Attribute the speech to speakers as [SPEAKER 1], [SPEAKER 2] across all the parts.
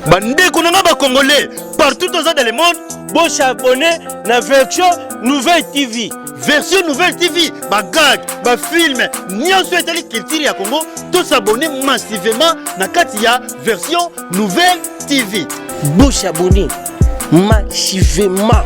[SPEAKER 1] bandeko na ngai bacongolais partout toza dans le monde bosabone na version nouvelle tv version nouvelle tv bagag bafilme nyonso etali culture ya congo tosabone massivement na kati ya version nouvelle tv bosabone massivement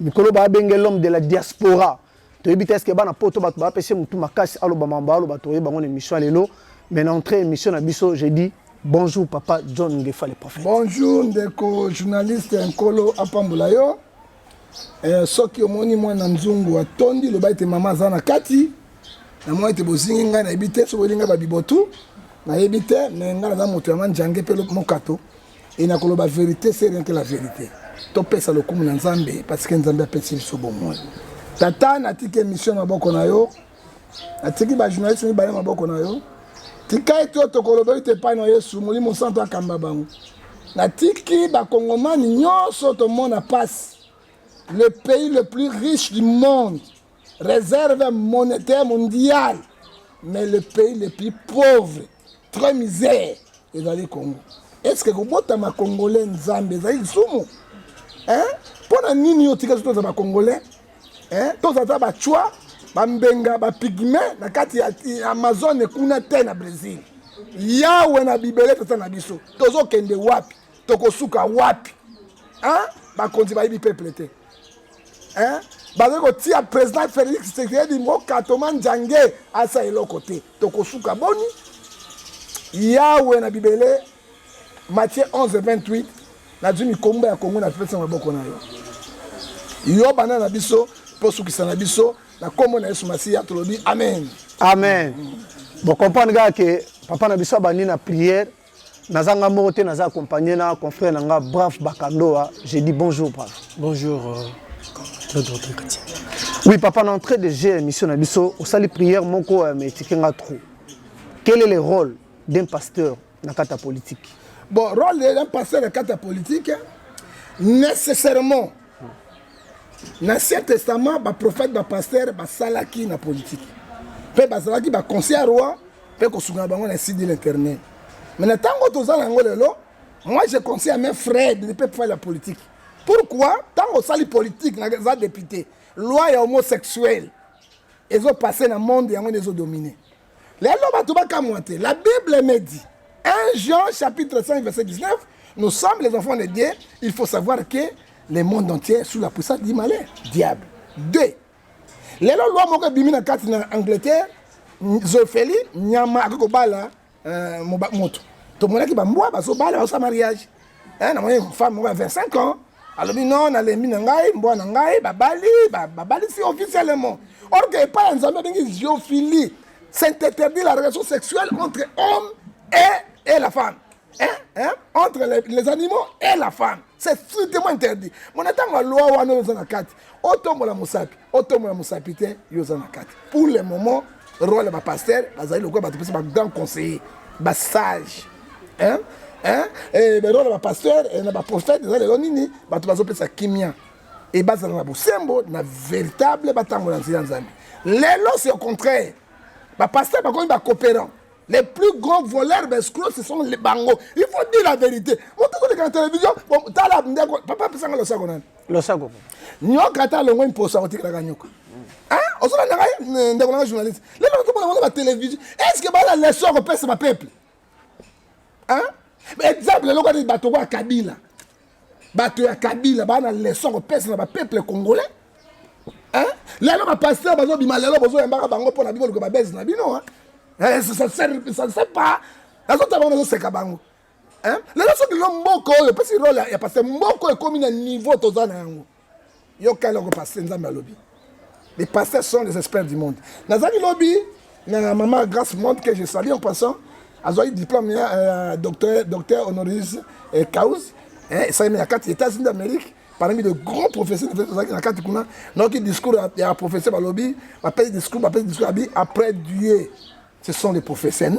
[SPEAKER 2] mikolo ba benge l'homme de la diaspora toyebi te eske bana poto bato bapesi motu makasi aloba mambo aloba toye bango na émission ya lelo mais na entrée émission na biso je dis bonjour papa john ngefa le prophète bonjour ndeko
[SPEAKER 3] journaliste nkolo apambola yo eh, soki omoni mwana nzungu atondi loba ete mama aza na kati namoni ete bozingi ngai nayebi te soki olinga babibotu nayebi te me ngai naza moto ya manjange mpe mokato Et na koloba verite c'est rien que la verite. To pesa lokumu na Nzambe parce que Nzambe apesi biso bomoi. Tata na tiki émission na boko na yo. Na tiki ba journaliste ni bale maboko na yo. Tika ete to koloba ete pa na Yesu molimo santo akamba bango. Na tiki ba kongomani nyonso to mona passe. Le pays le plus riche du monde Réserve monétaire mondiale, mais le pays le plus pauvre, très misère, ezali Congo. Est-ce que kobotama congolais nzambe ezali lisumu? Hein? Mpo na nini yo otika toza ba congolais? Hein? Toza ata ba chwa, ba mbenga, ba pygme na kati ya Amazon kuna te na Brésil. Yawe na bibele tata na biso. Tozokende wapi? Tokosuka wapi? Hein? Bakonzi bayibi peuple te. hein? bakoki kotia président félix tshisekedi mokatoma njange asa eloko te tokosuka boni yawe na bibele matie 11 28 nazwi mikomba ya kongo na pesa maboko na yo yo bana na biso mpo sukisa na biso na nkombo na yesu masiya tolobi amen amen
[SPEAKER 2] bokomprendre kaka ke papa na biso abandi na priere naza nga moko te naza accompagné na confrère na nga brave bakandoa j'ai dit bonjour brave bonjour euh,
[SPEAKER 1] claude rodri katia
[SPEAKER 2] oui papa na entrée de jeu émission na biso osali prière moko euh, mais etike nga trop quel est le rôle d'un pasteur na kati ya politique bon rôle
[SPEAKER 3] d'un pasteur na kati ya politique nécessairement l'ancien testament baprophète bapasteur basalaki na politique mpe bazalaki baconseil ya roi mpe kosunga na bango na site de l'internet mais na ntango toza na yango lelo moi je conseille à mes frères de ne pas faire la politique pourquoi ntango osali politique naza député loi ya homosexuel ezopasse na monde yango nde ezodomine lelo bato bakamwa te la bible me dit 1 jean chapitre 5 verset 19 nous sommes les enfants de dieu il faut savoir que le monde entier sous la puissance du malin diable 2 lelo loi moko ebimi na kati na angleterre zofeli nyama akoki kobala euh, moto tomonaki bambwa bazobala baosa mariage eh, namoni femme moko ya 25 ans alobi no nalembi na ngai mbwa na ngai babali babalisi officiellement or que epai ya nzambe abengi ziophilie c'est interdit la relation sexuelle entre homme et, et la femme hein? Hein? entre les, les animaux et la femme c'est strictement interdit mona ntango ya loi wana oyo oza na kati otombola mosapi otombola mosapi te yo oza na kati pour le moment role ya bapastere bazali lokola bato mpenso bagrand conseiller basage hein? hein? Eh, berole ya bapastere eh, na baprofete eza lelo nini bato bazopesa kimia e bazala na bosembo na véritable batambola nzela ya nzambe lelo c'est au contraire bapastere bakomi bacooperant les plus gros voleurs bescro ce sont les bango il faut dire la vérité moto koleka na télévision tala ndeko papa apesanga losako nani losako
[SPEAKER 2] nyoka ata
[SPEAKER 3] alongwe mposa otikelaka nyoka ozolandaka eh, ndeko nanga journaliste lelo tomona bango batelevizio estce bala leso ya kopesa bapeuple exemple eloko nini bato kwa kabila bato ya kabila baa na leson kopesa na bapeuple congolais lelo bapaster bazobima lelo bozoyambaka bango mpo na biboluka babese na bino sase pa nazotala bango nazoseka bango lelo soki lelo mboka oyo epesi role ya paster mboka oyo ekomi na niveau toza na yango Yo kala oko pasteur nzambe alobi. Les pasteurs sont les experts du monde. Nazali lobi na maman Grace Monde que je salue en passant. Azali diplôme ya euh, docteur docteur honoris euh, cause. Eh, ça na kati États-Unis d'Amérique parmi de grands professeurs tozalaki na kati kuna nayoki discours ya professeur balobi bapesi discours bapesi discours abi après Dieu ce sont les professeurs non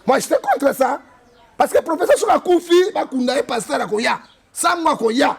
[SPEAKER 3] moi j'étais contre ça parce que professeur soki akufi bakunda ye pasteur akoya sango akoya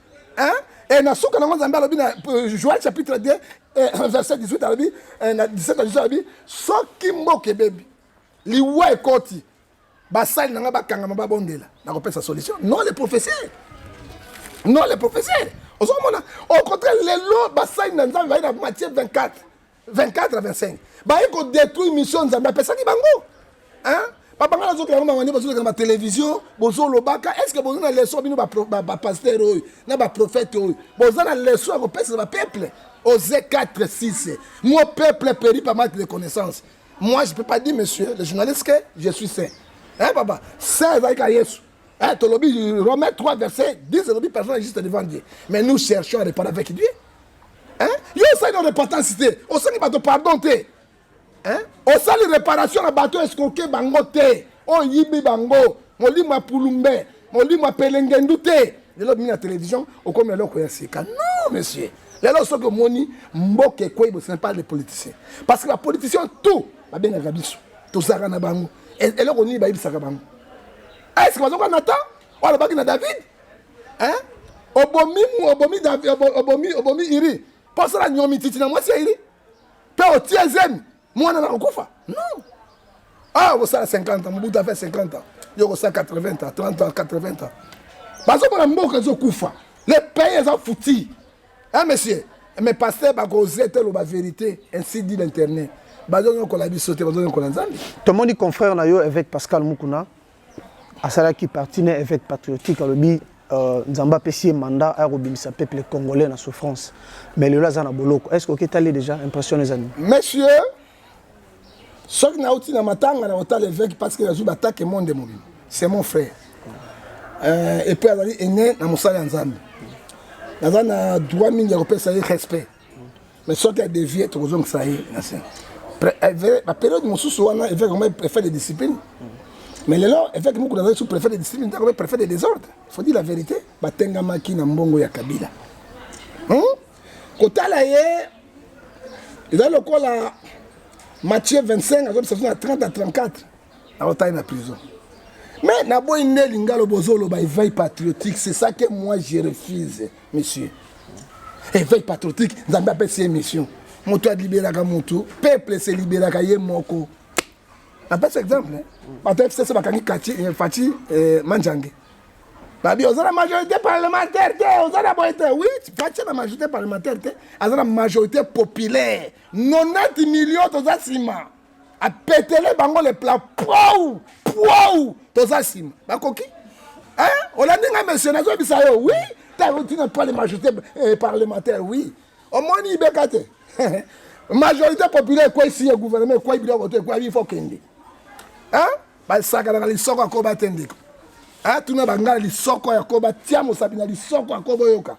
[SPEAKER 3] Hein? Et na suka nango Nzambe alobi na euh, Joël chapitre 2 euh, verset 18 alobi euh, na 17 na 18 alobi soki mboka ebebi liwa ekoti basali na ngai bakangama babondela nakopesa solution non le professeur non le professeur ozokomona au contraire lelo basali na nzambe bayi na matie 24 24 25 baye ko détruire mission nzambe apesaki bango hein babanga nazokela yango mangani bazoleka na batelevizio bozolobaka est ce que boza na leson bino bapaster oyo na baprofete oyo boza na leson ya kopesela bapeuple ose 4 6 mo peuple peri pa mate de connaissance moi je peux pas dire monsieur le journaliste que je suis saint hein papa saint ezalaki ka yesu hein tolobi romain 3 verset 10 elobi personne juste devant dieu mais nous cherchons à répondre avec dieu hein yo osali repentance te osengi bato pardon te hein osali réparation na bato escroke bango te oyibi bango molimo ya pulumbe molimo ya pelengendu te lelo bimi na télévision okomi eloko ya sika non monsieur lelo soki omoni mboka ekwei bosene pas les politiciens parce que bapoliticien tout babengaka biso tozalaka na bango eloko nini bayebisaka bango est ce que bazoka na temps oyo alobaki na david eh? obomi obomi obomi obomi iri mpo osala nyomi titi na mwasi ya iri mpe otie zemi mwana na kokufa non ah okosala 50 ans mobutu afe 50 ans yo okosala 80 ans 30 ans 80 ans bazomona mboka ezokufa le pays eza futi hein monsieur mais pasteur bakoze te loba vérité ainsi dit l'internet bazonyokola biso te bazonyokola
[SPEAKER 2] nzambe tomoni confrère na yo évêque pascal mukuna asalaki parti na évêque patriotique alobi euh, nzambe apesi ye mandat aya kobimisa peuple congolais na souffrance mais lelo aza na boloko est ce que oketali déjà impression eza nini monsieur
[SPEAKER 3] soki nauti na matanga na kotala évêque parce que nazwi batake monde mobima c'est mon frère euh, epuis azali ene na mosala ya nzambe naza na droit mingi ya kopesa ye respect mais soki adevie tokozongisa ye na se baperiode mosusu wana eveke koma préfet de discipline mais lelo eveke moko nazali sous préfet de discipline te akomi préfet de désordre faut dire la vérité batengamaki na mbongo ya kabila hmm? kotala ye eza lokola mathieu 25 azobisa biso na 30 à 34 aotali na prison mais naboyi nde lingalo bozoloba eveil patriotique c'est ça que moi je refuse monsieur éveil patriotique nzambe apesi ye mission moto alibelaka moto peuple se libelaka ye moko napesi exemple bato fcc bakangi kati eh, faci eh, manjange babi oza na majorité parlementaire te oza na boye te wi faci na majorité parlementaire te aza na majorité populaire 90 million toza nsima apetele bango le plat pou pou toza nsima bakoki olandi ngai monsieur nazobisa yo oui tarotina pas le majorité eh, parlementaire oui omoni ibeka te majorité populaire ekwesi ye gouvernement ekwai biloko to ekwai bifo kende basakanaka lisoko akoba te ndeko tuna bangala lisoko ya koba tia mosapi na lisoko ya koba oyoka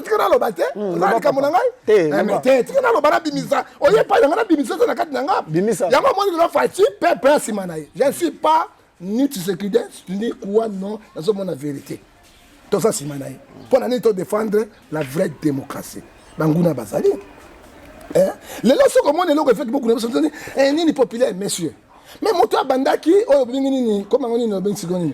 [SPEAKER 3] tika naloba te oza likambo na ngai te tika naloba nabimisa oye epai na ngai nabimisa eza na kati na nga yango amoni lelo faci pepe nsima na ye je ne suis pas ni tshisekide ni kuwa non nazomona verité toza nsima na ye mpo na nini to défendre la vraie démocratie banguna bazali eh? lelo soki omoni eloko efeki bokuna biso toni eh, nini populaire monsieur me moto abandaki oyo olingi nini komango nini obengisi ko nini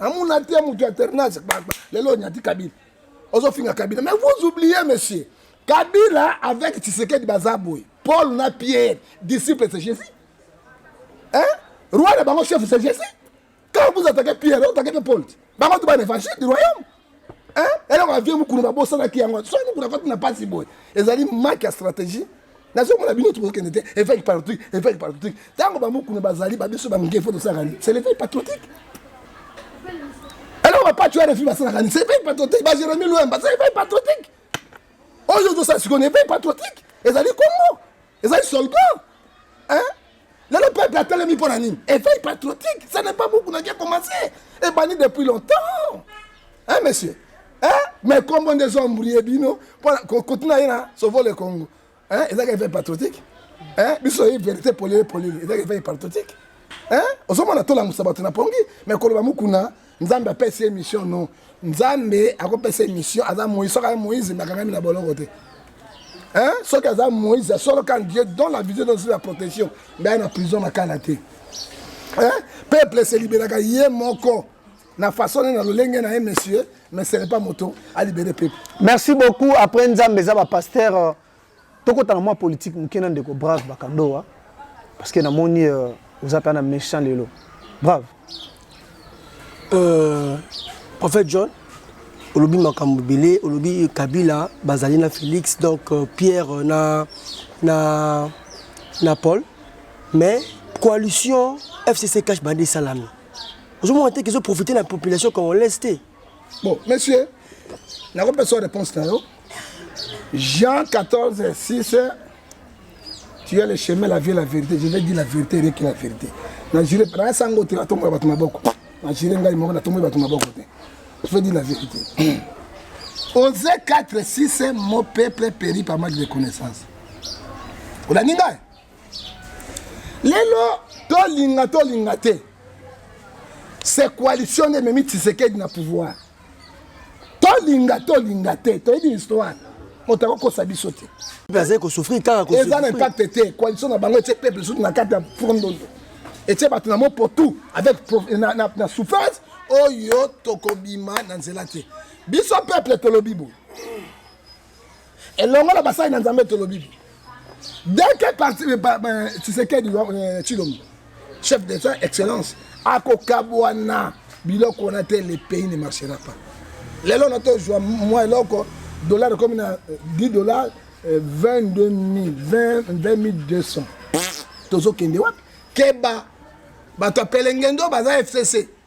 [SPEAKER 3] amuna te mutu ya ternage lelo onyati kabila ozofinga kabila mais vous oubliez monsieur kabila avec tshisekedi baza boye paul na pierre disciple c'est jésus hein roi na bango chef c'est jésus quand vous attaquez pierre otaquez mpe paul bango tu bana évangile du royaume eloko ya vie mokulu babosanaki yango soki mokulu akoti na mpasi boye ezali make ya stratégie nazomona bino tokokende te évêque patriotique évêque patriotique ntango bamokuna bazali babiso bange fo tosalaka nini c'est l'évêque patriotique eloko bapati ya refi basalaka nini c'est évêque patriotique bajeremi loyamba c'est évêque patriotique oyo tozosala sikoyo na évêque patriotique ezali kongo ezali soldat hein lelo peuple atelemi mpo na nini éveil patriotique ça n'est pas beaucoup naki ekomase ebandi depuis longtemps hein monsieur hein mais kombo nde ezoambrie bino mpo koti na ye na sauvo le congo hein ezaka éveil patriotique hein biso oyebi vérité polele polele ezaka éveil patriotique hein ozomona tolangwisa bato na pongi mais koloba mokuna nzambe apesi ye mission non nzambe akopesa ye mission aza moïse soki aza moïse bakangami na boloko te hein? soki aza moïse ya solo quand dieu don la vision donse la protection mbe aya na prison na kala te hein? peuple se libelaka ye moko na façon ne na lolenge na ye monsieur mais ce n'est pas moto alibere peuple merci beaucoup après
[SPEAKER 2] nzambe eza bapasteur euh, Tokota na mwa politique moke na ndeko Brave Bakandoa parce que namoni euh, oza mpe na méchant lelo. Brave. Euh,
[SPEAKER 4] prophète John olobi makambo ebele olobi kabila bazali na félix donc euh, pierre euh, na, na, na paul mais coalition fcc cash bande esalami ozomona te kezoprofite na population congolaise te Bon,
[SPEAKER 3] monsieur, nakopesa réponse na yo. Jean 14, 6, tu as le chemin, la vie, la vérité. Je vais dire la vérité, rien que la vérité. Na jure, na sango te, atombo bato maboko. Na jure ngai moko, na tombo bato maboko te. Je vais dire la vérité. Osée 4, 6, mon peuple périt par manque de connaissance. Olandi ngai? lelo tolinga tolinga te se coalition nde ememi tisekedi na pouvoir tolinga tolinga te toyebi histoire moto akokosa biso te bazali kosouffrir
[SPEAKER 4] kaka eza na impact te
[SPEAKER 3] coalition na bango etie peuple sutu na kati ya fondondo etie bato na mopotu avec na, na, na souffrance oyo tokobima na nzela te biso peuple tolobi boye elongo na basali na nzambe tolobi dès que parti tshisekedi tshilombo euh, euh, chef de soin excellence akokabwana biloko wana te le pays ne marchera pas lelo na tozwa mwa eloko dollar ekomi na 10 euh, dollar 22 200 tozokende wapi keba bato ya pelengendo baza fcc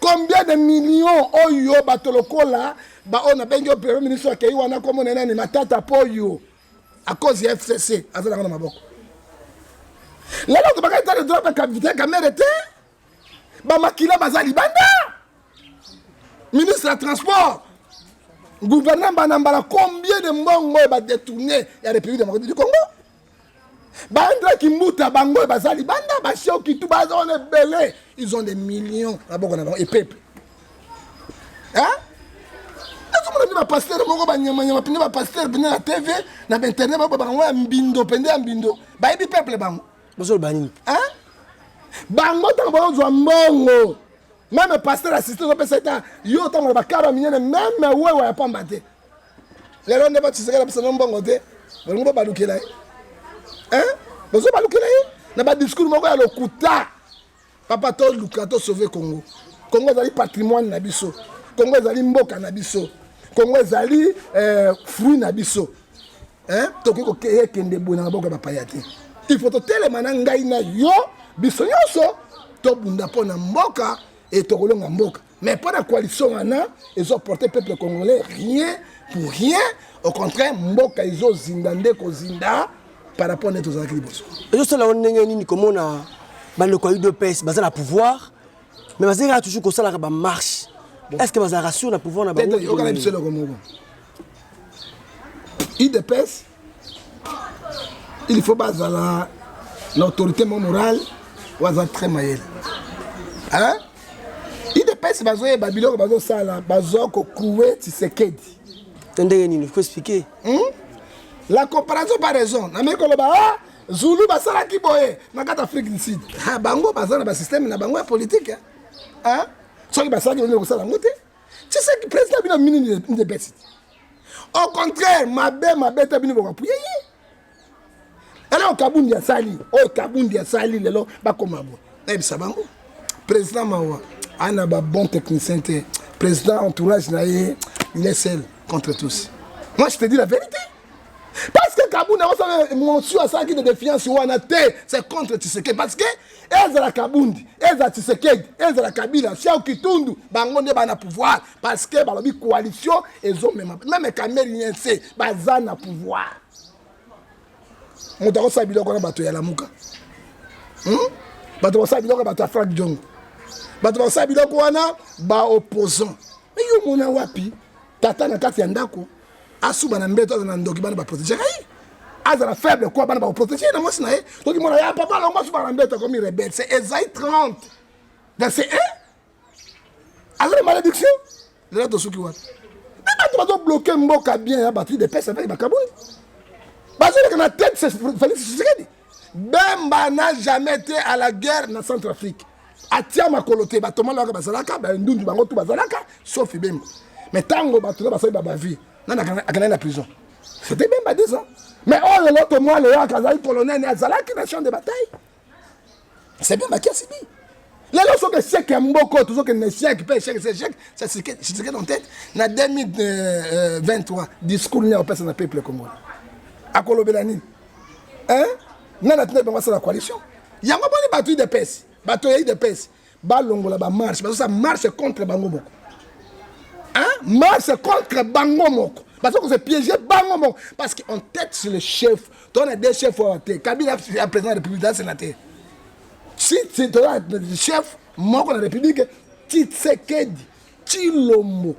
[SPEAKER 3] combien de millions oyo bato lokola baoyo nabengi yo premier ministre akei wana nkombo na nani matata mpo oyo a cause ya fcc aza nango na maboko lelo tobakaki tale droit bakapita kamere te bamakila baza libanda ministre ya transport gouvernement bana mbala combien de mbongo oyo badetourne ya république démocratique du congo Bandra Kimbuta bango baza libanda basioki tu baza wana ebele ils ont des millions na boko na bango epepe nazomona mpe bapastere moko banyamanyama mpenza bapastere mpenza na tv na bainternet bao bango ya mbindo mpenza ya mbindo bayebi peuple bango bozoloba nini bango ntango baozwa mbongo meme pasteur asiste ozopesa eta yo ntango bakara minene meme wewa ya pamba te lelo nde batisaka na bisango mbongo te bolingo bobalukela ye eh? bozo balukela ye na badiscours moko ya lokuta papa toluka tosauve congo congo ezali patrimoine na biso congo ezali mboka na biso congo ezali eh, fruit na biso eh? tokoki kokende boye na maboko ya bapaya te il faut totelema na ngai na yo biso nyonso tobunda mpo na mboka e tokolonga mboka mais mpo na coalition wana ezoporte peuple congolais rien pour rien au contraire mboka ezozinda nde kozinda par rapport nde tozalaki liboso ezosala yo ndenge
[SPEAKER 4] nini komona bandeko ya udps baza na pouvoir mais bazali kaka toujours kosalaka bamarche est ce que bazalaka sur na pouvoir na bango yokana biso eloko moko
[SPEAKER 3] idps il faut bazala na autorité mo morale oyo aza très mayele hein? idps bazoyeba biloko bazosala bazo kokoue tisekedi to ndenge nini
[SPEAKER 4] ko expliquer hmm?
[SPEAKER 3] la comparaison par raison nameki koloba ah, zulu basalaki boye na kati afrique du sud ha, ah, bango baza na basysteme na bango ya politike soki basalaki bameki kosala yango te Tshisekedi president bino mini ndebesiti. Au contraire, mabe mabe ta bino bokapuye ye. Alors Kabundi asali, oh Kabundi asali lelo bakoma bo. Ebisa bango. President Mawa, ana ba bon technicien te. President entourage na ye, il est seul contre tous. Moi je te dis la vérité. Parce que Kabundi a mention à ça qui de défiance ou anaté, c'est contre Tshisekedi parce que ezala kabundi ezala tshisekedi ezala kabila siao kitundu bango nde bana pouvoir parce que balobi coalition ezomema meme kamerien se baza na pouvoir moto akosala biloko na bato ya lamuka hmm? bato bakosala biloko ya bato ya frank jongo bato bakosala biloko wana baopposant eyo omona wapi tata na kati ya ndako asuba na mbeto azala na ndoki bana baprotege ngai azala faible kuwa bana bakoprotege ye na mwasi na ye soki mona ya papa longo asuba na mbeto akomi rebelle se ezai 30 verset 1 azali malédiction lelo tosuki wapi mpe bato bazobloke mboka bien ya batri de pese aveki bakaboli bazoleka na tete felix tshisekedi bemba na jamais te à la guerre na centre afrique atia makolo te bato malaka bazalaka bandundu bango tu bazalaka sauf bemba mais ntango bato na basali babavi nani akendaki na prison c'était bemba des ans mais oyo oh, loto mwa leyaka azali colonel azalaki na champ de bataille c'est bemba qui a subi lelo soki echec ya mboko tozokende na echec mpe echec se echec sasike dans tête na 2023 euh, euh, discours nini akopesa na peuple congolais akolobela nini hein nani atindaki bango asala coalition yango boni bato idps bato ya idps balongola bamarche bazosala marche contre bango moko hein marche contre bango moko baza kozo piége bango moko parce que on tête sur le chef tona de chef oyo te kabila ya président ya république aza sénateur si toza chef moko na république tshisekedi Tshilombo.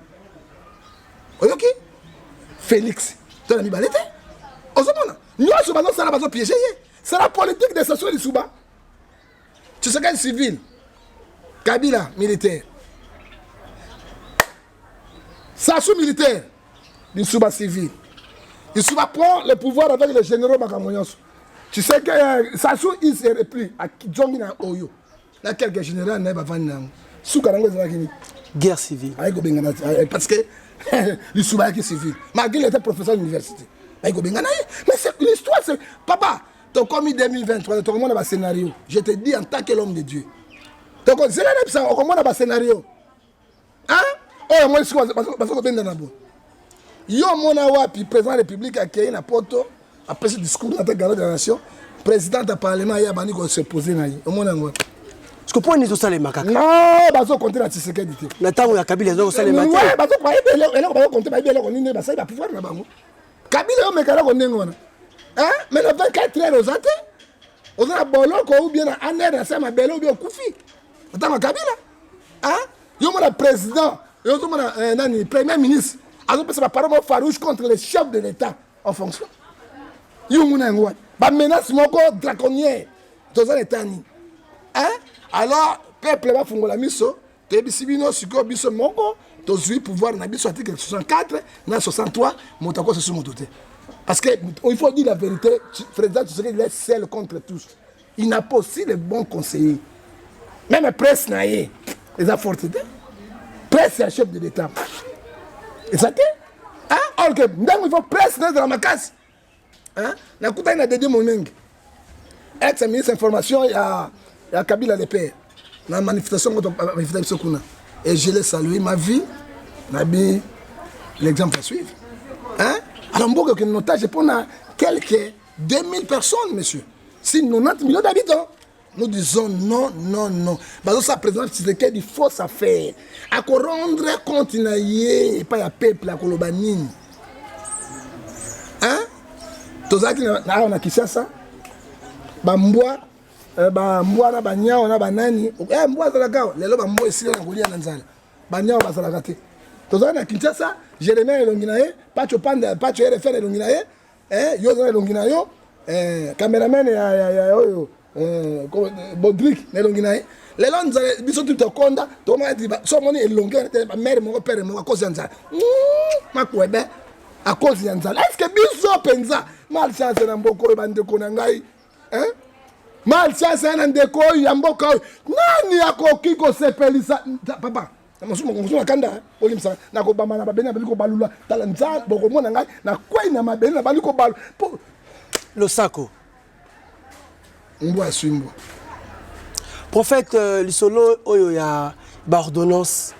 [SPEAKER 3] Oyoki? Felix. Toi la mibale te. Ozomona? Nyoso bazo sala bazo piéger ye. C'est la politique de Sassou Lisouba. Tu sais quel civil? Kabila militaire. Sassou militaire. Lisouba civil. Lisouba prend le pouvoir avec les généraux Bakamoyonso. Tu sais que euh, Sassou il se replie à Kidjongi na Oyo. na quelque général na ye bavandi na yango suka na yango ezalaki nini guerre
[SPEAKER 4] civile ayi kobengana eh, parce que
[SPEAKER 3] lisuba yaki civile malgré il était professeur d'université ayi kobengana ye mais c'est l'histoire c'est papa tokomi 2023 tokomona bascénario je te dis en tant que l'homme de dieu tokozela na bisa okomona bascénario oyo yango esika baza kobendana boye yo omona wapi président ya république akei na poto apesi discours na te garde de la nation président ya parlement ye abandi kose pose na ye omona yango wapi
[SPEAKER 4] siko mpo nini ezosalema kaka non bazokonte
[SPEAKER 3] na tisekedi te na ntango ya kabila
[SPEAKER 4] ezokosalema te bazokoeleko
[SPEAKER 3] bazokonte bayebi eloko nini basali bapouvoir na bango kabila yo meka eloko ndenge wana mais na 24 heure oza te oza na boloko ou bien na aner na se ya mabele ou bien okufi atanga kabila hein yo mona président yo zo mona euh, nani premier ministre azo pesa ba parole farouche contre les chefs de l'état en fonction yo nguna yango wana ba menace moko draconier toza na etat nini hein alors peuple ba fungola miso toyebisi bino sikoyo biso moko tozwi pouvoir na biso article 64 na 63 moto akosa su moto te parce que il faut dire la vérité président tshisekedi il est seul contre tous il n'a pas aussi le bon conseiller meme presse na ye eza forte te presse ya chef de l'état eza te or que ntango il faut presse na ezala makasi nakutani na dede monenge ex ministre information ya, ya kabila le père na manifestation ngo manifesta biso kuna et je le salue ma vie nabi l'exemple à suivre hein? alors mboka okende notage mpo na quelque 2000 personnes monsieur si 90 millions d'habitants nous disons non non non bazosala président tshisekedi fausse affaire akorendre compte na ye epai ya peuple akoloba nini hein tozalaki awa na kinshasa bambwa eh, bambwa na banyao na banani eh, mbwa azalaka awa lelo bambwa esila na kolia na nzala banyao bazalaka te tozalaki na kinshasa jeremia elongi na ye pacho panda pacho rfl elongi na ye eh yo oza elongi na yo eh cameraman ya ya ya oyo eh Bodrick na elongi na ye lelo nzala biso tu tokonda tomona ti so omoni elongi wana te bamere moko pere moko akozi ya nzala hmm, makwebe akozi ya nzala estce biso mpenza malchance na mboka oyo bandeko na ngai eh? malchance ya na ndeko oyo ya mboka oyo nani akoki kosepelisa papa na masumu makongoso na kanda eh. olimbisa nakobamba na mabele nabali kobalula tala nzambe bokomona ngai nakwei na mabele nabali kobalula po
[SPEAKER 4] losako
[SPEAKER 3] mbwa aswi mbwa
[SPEAKER 4] prophète euh, lisolo oyo ya baordonnance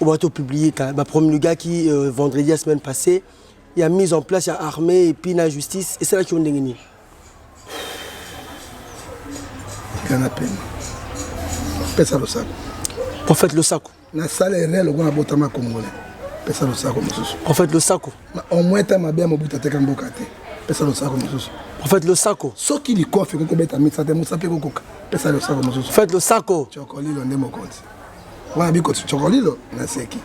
[SPEAKER 4] oyo bato publie bapromulgaki euh, vendredi ya semaine passée ya mise en place ya armée epuis na justice esalaki yo ndenge nini
[SPEAKER 3] tika na pema pesa losako prophète
[SPEAKER 4] losako nasala erreur
[SPEAKER 3] lokola nabotama congolais pesa losako mosusu prophète losako
[SPEAKER 4] au moins ta mabe
[SPEAKER 3] ya mobuta teka mboka te pesa losako mosusu prophète losako
[SPEAKER 4] soki likofi ekoki
[SPEAKER 3] kobeta misa te mosa mpe kokoka pesa losako mosusu prophète losako
[SPEAKER 4] cokolilo nde mokonzi
[SPEAKER 3] wana bikoti cokolilo naseki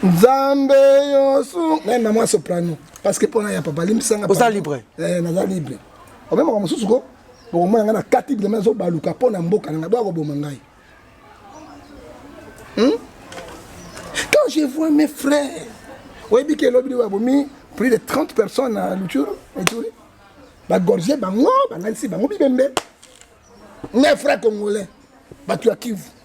[SPEAKER 3] nzambe yosu naye mama ya soprano parce que mpona ya papa limbisanga oza libre eh,
[SPEAKER 4] naza libre
[SPEAKER 3] obe makambo mosusu ko bokomona ngai na kati bilema ezobaluka mpo na mboka na ngai boya koboma ngai hmm? quand je vois mes frères oyebi ke elobi liwa bomi plus de 30 personnes na luture eturi bagorge bango bangalisi bango bibembe mes frères congolais bato ya kivu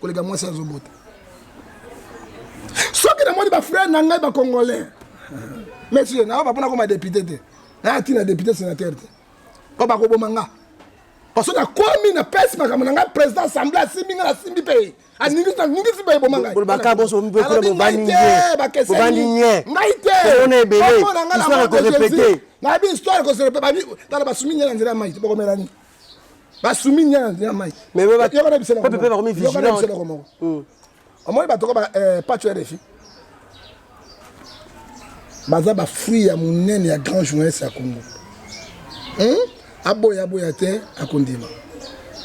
[SPEAKER 3] koleka mwasi azobota soki namoni bafrere na ngai bacongolais monsieur nayo bapona koma depute te naya ntina depute sénateur te po bakoboma nga parce que nakomi napesi makambo na ngai président assemblé asimbi ngai nasimbi mpe aningisi mpe eboma
[SPEAKER 4] ngaingai te nayebi histoire
[SPEAKER 3] koselepetala basumi ngai na nzela ya mai bokomelani basumi nyana ya mai yoko na biso
[SPEAKER 4] eloko moko
[SPEAKER 3] hmm. omoni bato ko eh, paco rfi baza bafruit ya monene ya grand journaliste ya congo hmm? aboya aboya te akondima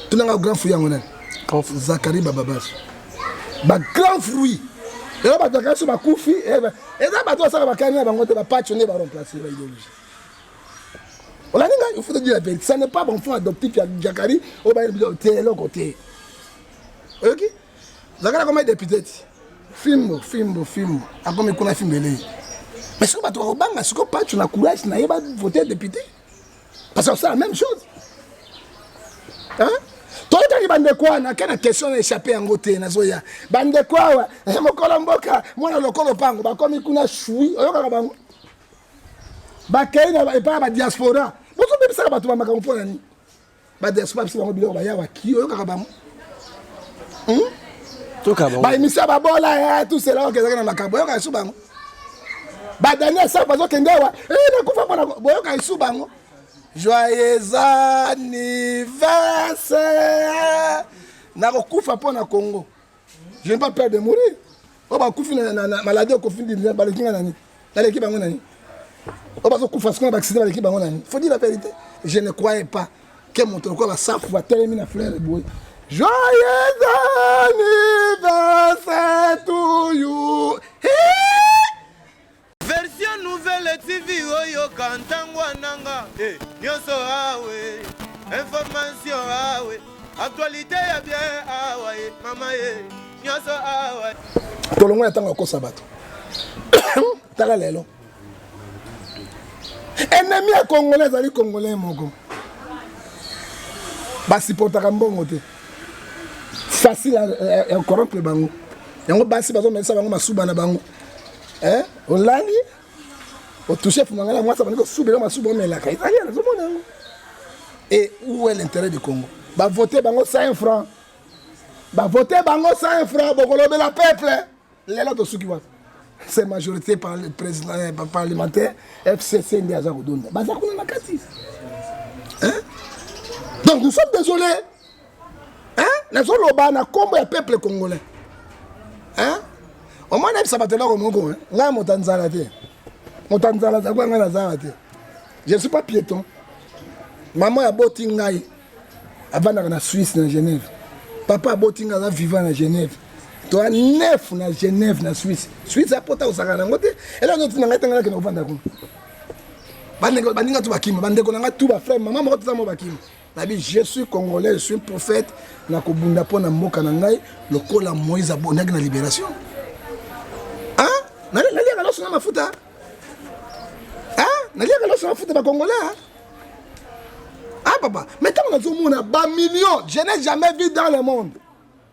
[SPEAKER 3] tunanga grand fruit yango nani zakari bababas bagrand fruit elo bato bakasi bakufi eh, eza bato basaka bakani na bango te bapaco nde baremplace baidologie olandi ngai ofuta di la verite ça n'est pas bon fond adoptif ya jakari oyo bayeli biso te eloko te oyoki zakari akomi depute ti fimbo fimbo fimbo akomi kuna fimbo elei mais sikoyo bato bakobanga sikoyo pacho na courage na ye bavote depute parce que osala même chose toyetaki bandeko wana ke na question na échappe yango te nazoya bandeko awa eh, mokolo mboka mwana lokolo mpango bakomi kuna shui oyokaka bango bakei na epai ya badiaspora bozobebisaka bato ba makambo mpo na nini badiaspora bisi bango biloko bayawa ki oyokaka bango hmm?
[SPEAKER 4] baemisio ya babola
[SPEAKER 3] eh, tusela okezaki na makambo oyokaka su bango badani ya sapa azokende awa eh, nakufa mpona boyokaka su bango joyeux anniversaire nakokufa mpo na congo je n'ai pas peur de mourir oyo bakufi na maladie okofi baleki nga nani naleki bango nani oyo bazokufa sikoyo na baaccident baleki bango nani faut dire la vérité je ne croyais pas ke moto lokola basafu batelemi na fleur eboye joyeux anniversaire to you
[SPEAKER 1] Version nouvelle TV oyoka ntango ananga eh, nyonso awe information awe actualité ya bien awa ye mama ye nyonso awa tolongo ya ntango
[SPEAKER 3] ya kosa bato tala lelo enemi ya congolais azali congolais moko basupportaka mbongo te facile ya corrompre bango yango basi bazomelisa bango masuba na bango eh olali otouche fumanga na mwasi abandi kosubela masuba omelaka ezali ya nazomona yango et où est l'intérêt du congo bavote bango 5 francs bavote bango 5 francs bokolobela peuple lelo tosuki wapi se majorité par le président eh, parlementaire fcc nde aza kodonda baza kuna na kati donc nous sommes désolés hein nazoloba na kombo ya peuple congolais hein omoi nayebisa bato eloko moko ngai moto ya nzala te moto ya nzala aza kwa ngai na zala te je suis pas piéton mama oyo aboti ngai avandaka na suisse na genève papa aboti ngai aza vivant na genève toa nef na genève na suisse suisse apota kosaka nango te eloko nyonso na ngai tanga nakende kovanda kuna baninga tu bakima bandeko na ngai tu baframe mama moko toza mo bakima nabi je suis congolais je suis prophète nakobunda mpo na mboka na ngai lokola moïse abondaki na libération naliaka loso na mafuta naliaka loso na mafuta bacongolais ah papa mais ntango nazomona bamillion je n'ai jamais vu dans le monde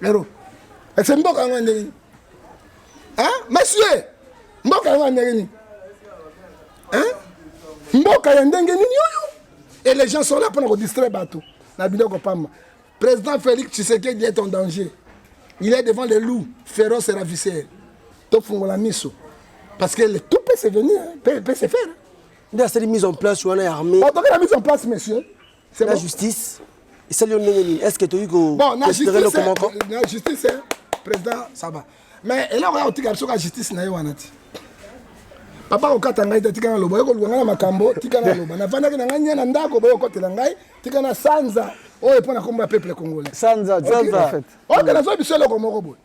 [SPEAKER 3] lero ese mboka yango ndenge nini monsieur mboka yango ya ndenge nini mboka ya ndenge nini oyo et les gens sont là mpona kodistraire bato na biloko pamba président félix tshisekedi est en danger il est devant les loups féroce et ravisseur tofungola miso parce que le tout peut se venir peut, peut se faire nde asali
[SPEAKER 4] mise en place wana ya armée batokela mise en place
[SPEAKER 3] monsieur C'est la bon? justice.
[SPEAKER 4] Et ça, est-ce que tu as eu bon, la justice, la
[SPEAKER 3] justice, hein, président Saba. Mais et là, on a aussi la justice, na wanati. Papa okata ngai tika na lobo yoko luanga makambo tika na lobo na vandaki na ngai nyana ndako boyo kotela ngai tika na sanza oyo pona komba peuple congolais sanza sanza en fait
[SPEAKER 2] oyo
[SPEAKER 3] kana zo biso loko moko boye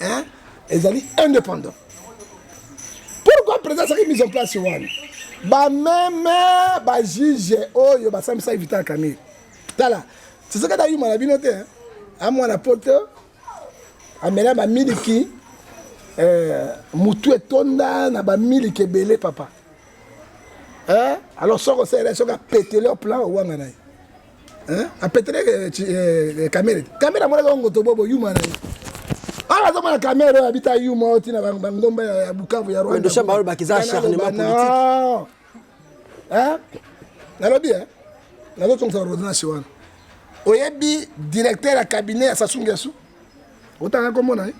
[SPEAKER 3] hein ezali indépendant pourquoi président asaki mise en place wana bameme bajuge oyo basambisaki vital camille tala tisekedi ayuma na bino te amwana poto amela bamiliki eh, motu etonda na bamiliki ebele papa eh? alors soki osalela soki apetele plan owanga na ye Hein? A pétré euh, euh, euh, caméra. Caméra moi la ngoto bobo yuma na. Ah la zama caméra habita yuma oti na bangomba ya Bukavu ya Rwanda. Ndio shamba wale bakiza
[SPEAKER 4] acharnement politique.
[SPEAKER 3] Hein? Nalobi hein? Nazo tonga rodina shiwana. Oyebi directeur ya cabinet ya Sassou Nguesso? Otanga komona hein?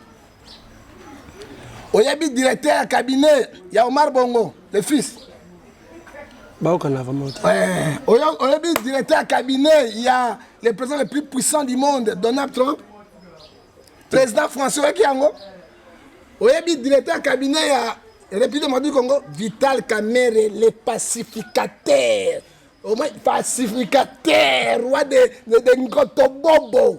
[SPEAKER 3] oyebi directeur ya cabinet ya omar bongo le fils
[SPEAKER 4] baokana vraiment eh, oyebi
[SPEAKER 3] directeur ya cabinet ya le président le plus puissant du monde donald trump président français oyoki yango oyebi directeur ya cabinet ya république madi congo vital kamere le pacificateur au moins pacificateur roi de, de, de ngotobobo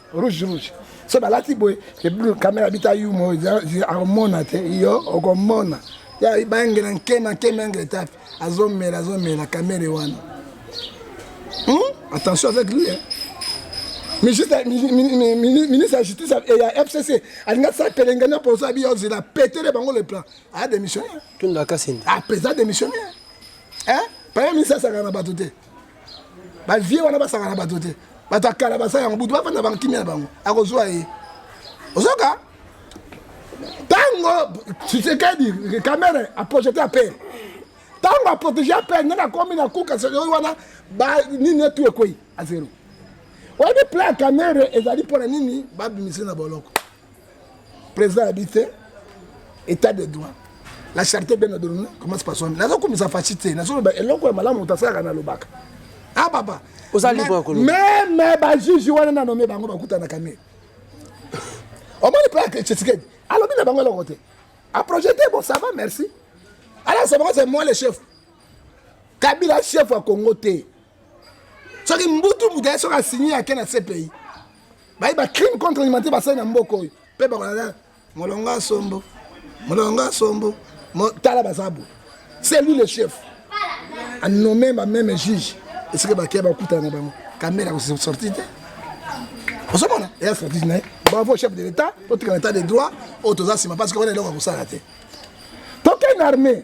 [SPEAKER 3] rouge rouge so balati boye ebulu kamera bita yumo akomona te yo okomona ya bangela nkema nkema yango etape azomela azomela kamere wana hmm? attention avec lui hein? ministre ya justice ya fcc alingi asala pelengani aposo abi ozela apetele bango le plan aya démissionnaire
[SPEAKER 4] apeza
[SPEAKER 3] démissionnaire premier ministre asakana na bato te ba vieux wana basaka na bato te bato ya kala basala yango butu bafanda bango kimia na bango akozwa ye ozoka ntango tshisekedi kamere aprojete ya pere ntango aprotege ya pere ndenge akomi na kuka oyo wana nini etu ekwei azero oyebi plan ya kamere ezali mpo na nini babimise na boloko président abi te état de droit la charité bien ordonnée commence par soi-même naza komisa fashi te nazoloba eloko ya malamu moto asalaka nalobaka ah papa oza libre ya koloba
[SPEAKER 4] mais mais ba juge
[SPEAKER 3] wana na nommé bango bakutanaka ne omoni mpe ake tshisekedi alobi na bango eloko te aprojete bon ça va merci alasa bango c'est moi le chef kabila chef ya congo te soki mbutu mbutu aye soki asigne ake na cpi baye bacrime contre alimentaire basali na mboka oyo mpe bakolala molongo asombo molongo asombo tala baza boye c'est lui le chef anome bameme juge esika bakeya bakutana na bango kamera akosorti te ozomona eya stratégie na ye bravo chef de l'état totika na état de droit oyo toza nsima parce que wana eloko ya kosala te tokende armée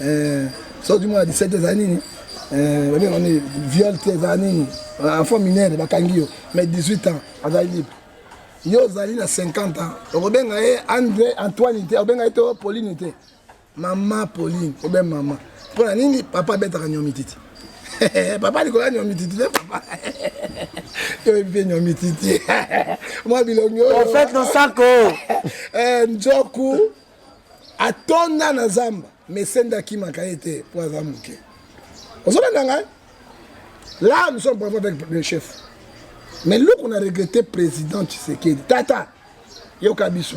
[SPEAKER 3] Eh, soki mwana 17 eza nini eh, babenga nini viol te eza nini enfant minere bakangi yo mais 18 ans azali libre yo ozali na 50 ans okobenga ye andre antoine te okobenga ye to pauline te mama pauline obe mama mpo na nini papa abetaka nyomititi papa likolo ya nyomititi te papa yo mpe nyomititi mwa bilongi oyo en fait nosako
[SPEAKER 4] eh,
[SPEAKER 3] njoku atonda na zamba mesende akimaka ye te mpo aza moke ozolanda ngai là nous sommes bravo avec le chef mais luku na regrette président tshisekedi tata yoka biso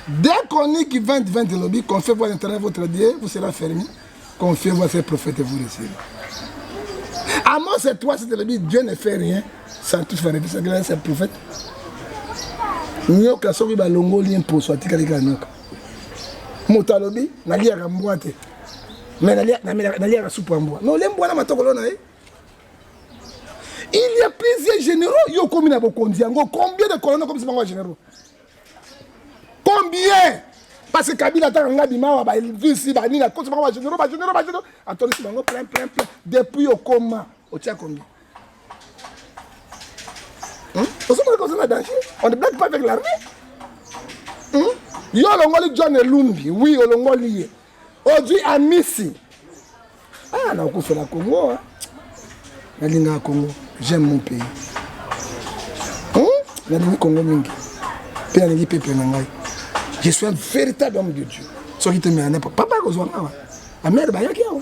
[SPEAKER 3] dès qu'on est qui 2020 elobi qu'on fait voir internet votre dieu vous sera fermé Confiez-vous à ces prophètes et vous recevez. Amos et toi, c'était le but, Dieu ne fait rien sans tout faire. C'est que c'est le prophète. nyoka soki balongoli ye mposo atikali kaka nyoka moto alobi naliaka mbwa te me naliaka supu ya mbwa me olie mbwa na matokolo na ye il y a plusieurs généraux yo okomi na bokonzi yango combien de colonne okomisi bango ya généraux combien parce que kabila ataka nga bimawa balvisi banini akosi bango bagénéraux bagénéraux bagénéraux atondisi bango plein plein plein depuis okoma otia combien ozomona koza na danger on ne blague pas avec l'armée yo olongoli john elumbi oui olongoli ye Ozwi Amisi. Ah, nakufela Congo. Nalingaka Congo. J'aime mon pays. Hmm? Nalingi Congo mingi. Mpe nalingi pepe na ngai. Je suis un véritable homme de Dieu. Soki te mea papa akozwa ngai. Amere bayaki awa.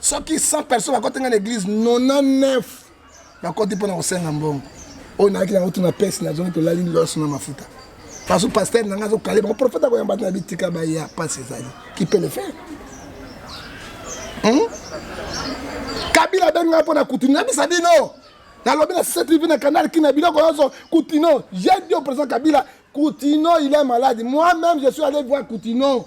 [SPEAKER 3] soki 100 personnes bakoti nga na église 99 bakoti mpo na kosenga mbongo oyo nayaki nango tuna pesi nazongi tolali loso na mafuta faso paster na ngai azokale bango profete akoyamba te na bitika baya mpasi ezali kipe le faire hmm? kabila abengi ngai mpo na kutuni nabisa bino nalobi na ctv na canal kina biloko nyonso kutino j'ai dit au président kabila kutino il est malade moi même je suis allé voir kutino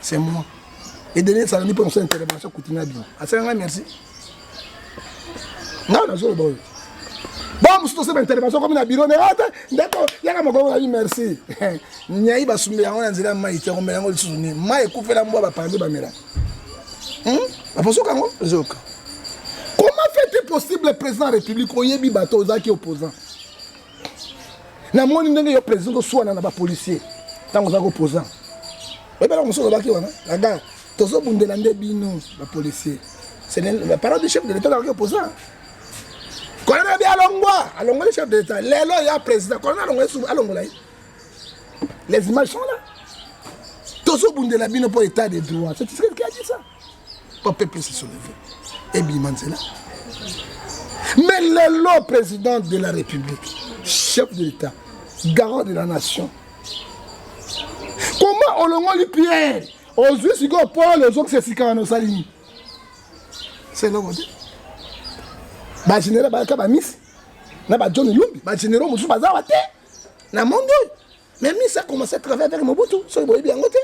[SPEAKER 3] c'est moi et dernier ça ni pour son intervention kutina bien asala nga merci nga na zolo boyo ba musu to sema intervention comme na bureau ne ata ah, ndeko yaka moko na merci nyai ba sumbe yango na nzela mai te ngomela yango lisusu ni mai kufela mbwa ba pande ba mela hmm ba poso kango zoka comment fait-il possible président de la république oyebi bato ozaki opposant namoni ndenge yo président osuana na bapolicier ntango oza koposa oyebelaka mosusu olobaki wana na gare tozobundela nde bino bapolicier parole du chef de l'état azalaki opposant kolona abi alongwa alongoli chef de l'état lelo ya président kolona alongwa esu alongola ye les images sont là tozobundela bino mpo état de droit c'est ce qu'il a dit ça po peuple se souleve ebima nzela mais lelo président de la république chef de l'état garant de la nation comment olongoli pierre ozwi sikoyo paul ozokisa esika wana osali nini se eloko te bagénéral bayaka bamisi na bajohn lumbi bagénéraux mosusu bazawa te na monde oyo mais misi akomanse travaille avec mobutu soki boyebi yango te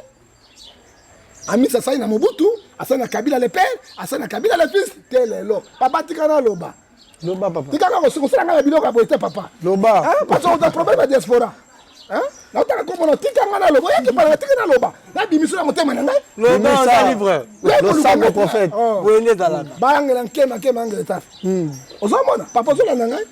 [SPEAKER 3] amisi asali na mobutu asali na kabila le père asali na kabila le fils te lelo papa tika naloba loba papa tika
[SPEAKER 2] kaka kosala ngai na biloko
[SPEAKER 3] ya boye te papa loba parce
[SPEAKER 2] oza problème
[SPEAKER 3] ya diaspora naotaka komona tika ngai naloba oyaki pala na tika naloba nabimisi na motema na ngai
[SPEAKER 4] losango prophète
[SPEAKER 2] boye nde ezalaka
[SPEAKER 4] bayangela nkema nkema
[SPEAKER 3] angela etafe ozomona papa ozolanda ngai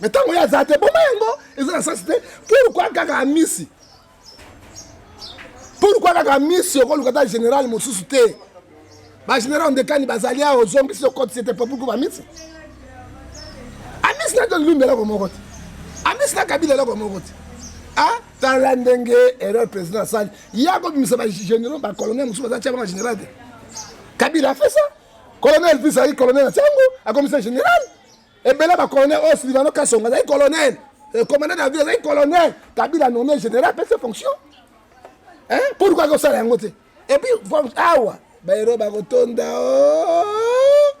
[SPEAKER 3] me ntango ye aza te boma yango eza na sasi te pourkua kaka amisi pourkua kaka amisi okoluka ata général mosusu te bagénéral ndekani bazali awa ozongisi okotisi ete po pourkua bamisi amisi na john lumbi eloko moko te amisi na kabila eloko moko te ah, tala ndenge erreur président asali ye akobimisa bagénéraux bacolonel mosusu baza tia banga général te kabila afesa colonel fils azali colonel na tiango akomisa général ebele ba colonel oyo silivano kasonga azali colonel eh, commandant de la ville azali colonel kabila nommé général apesi fonction pourkoi akosala yango te epuis awa baero bakotonda oh.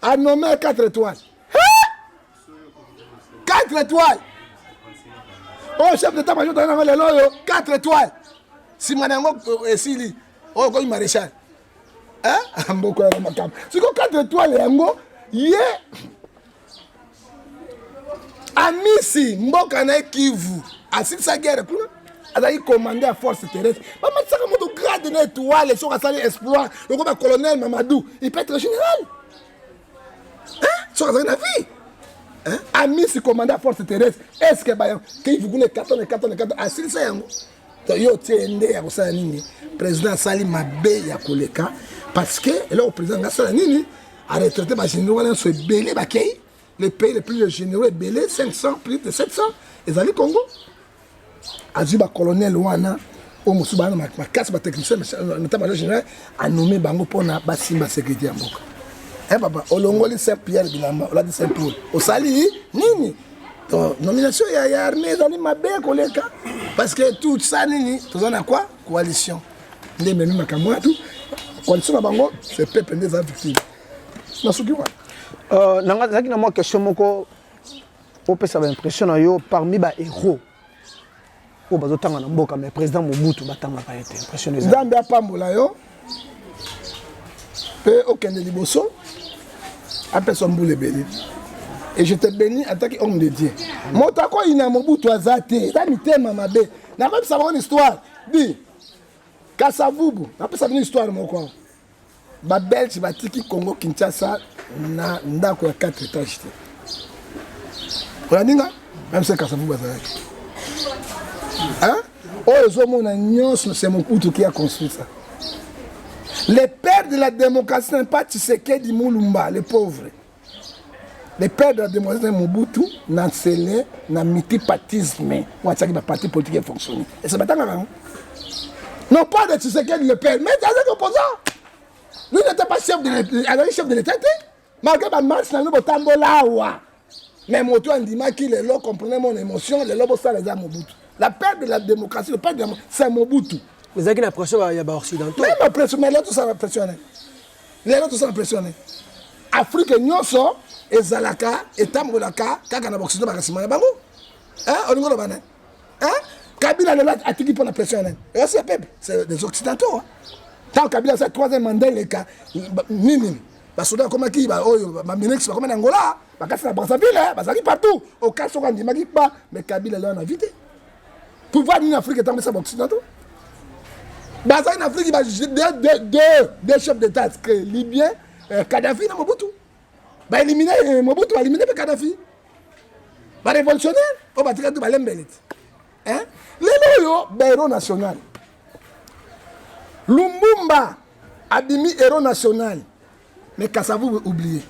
[SPEAKER 3] anome 4 étoile 4 étoile oyo oh, chef d'état major tozali nango lelo oyo 4 étoile nsima na yango euh, esili oyo oh, okomi maréchal eh? mboko ya makambo siko 4 étoile yango ye amisi mboka na ye kivu asilisa guerre kuna azalaki commande ya force terrestre bamatisaka moto grade na étoile soki asali exploit loko ba colonel mamadou il peut être général soki azalaki na vie amisi commande ya force terrestre est ce que bayango kivu kuna ekatana ekatana ekatana asilisa yango yo otie nde ya kosala nini président asali mabe ya koleka parce que eloko président nga asala nini aretraite bagénéraux wana nyonso ebele bakei le pays le plus de généraux ebele 500 plus de 700 ezali congo azwi bacolonel wana oyo mosusu baa makasi batechnicien nota major général anome bango mpona basimba sécurité ya mboka e papa olongoli saint pierre bilamba olati saint paul osali nini Donc, nomination ya, ya armée ezali mabe koleka parce que tout ça nini toza na quoi coalition nde ememi makambo wana tout coalition na bango c'est peuple nde eza victime na soki wana Euh, nanga- nazalaki na mwa
[SPEAKER 2] question moko opesa baimpression na yo parmi bahéros oyo bazotanga na mboka mais président mobutu batangaka ye te impression nzambe apambola yo
[SPEAKER 3] mpe okende liboso apesa mbula ebele et je te bénis en tant que homme de dieu moto akoyina mobutu aza te eza mitema mabe nakoyebisa bango na histoire di kasavubu napesa bino histoire moko awa Ba Belge batiki Congo Kinshasa na ndako ya 4 etage te. Olandinga même se kasavu bazalaki. Hein? Oyo ezomona nyonso c'est Mobutu qui a construit ça. Le père de la démocratie n'est pas Tshisekedi Mulumba, le pauvre. le père de la demoiselle mobutu na nsele na multipartisme oyo atiaki baparti politique efonctionne ese batangaka yango non pas de tshisekedi le père mais azaki opposant lui n'était pas chef de azali chef de l'état te malgré bamarche na bino botambola awa mais moto andimaki lelo comprenez mon émotion lelo bosala eza mobutu la père de la démocratie le père de c'est mobutu ezalaki na pression
[SPEAKER 4] ya baoccidentaux mais ma pression mais lelo tosala
[SPEAKER 3] pression nani lelo toza na pression ne afrike nyonso ezalaka etambolaka kaka na baoksido baka nsima na bango olingi oloba nani kabila lelo atiki mpo na pression ya nani ewasi ya pepe c'est des occidentaux ntango kabila aza troisième mandat eleka nini basoda bakomaki baoyo baminix bakoma na angola bakasi na brazzaville bazalaki partout okasi soko andimaki kpa mais kabila lelo na vie te pouvoir nini afrique etambwisa baoccident to bazali na afrique deux chef d'état que libyen euh, kadafi na mobutu baelimine euh, mobutu baelimine mpe kadafi barévolutionnaire oyo batikali to balembele te lelo oyo bahéros national lumbumba abimi héros national Mais Kasavubu oublié.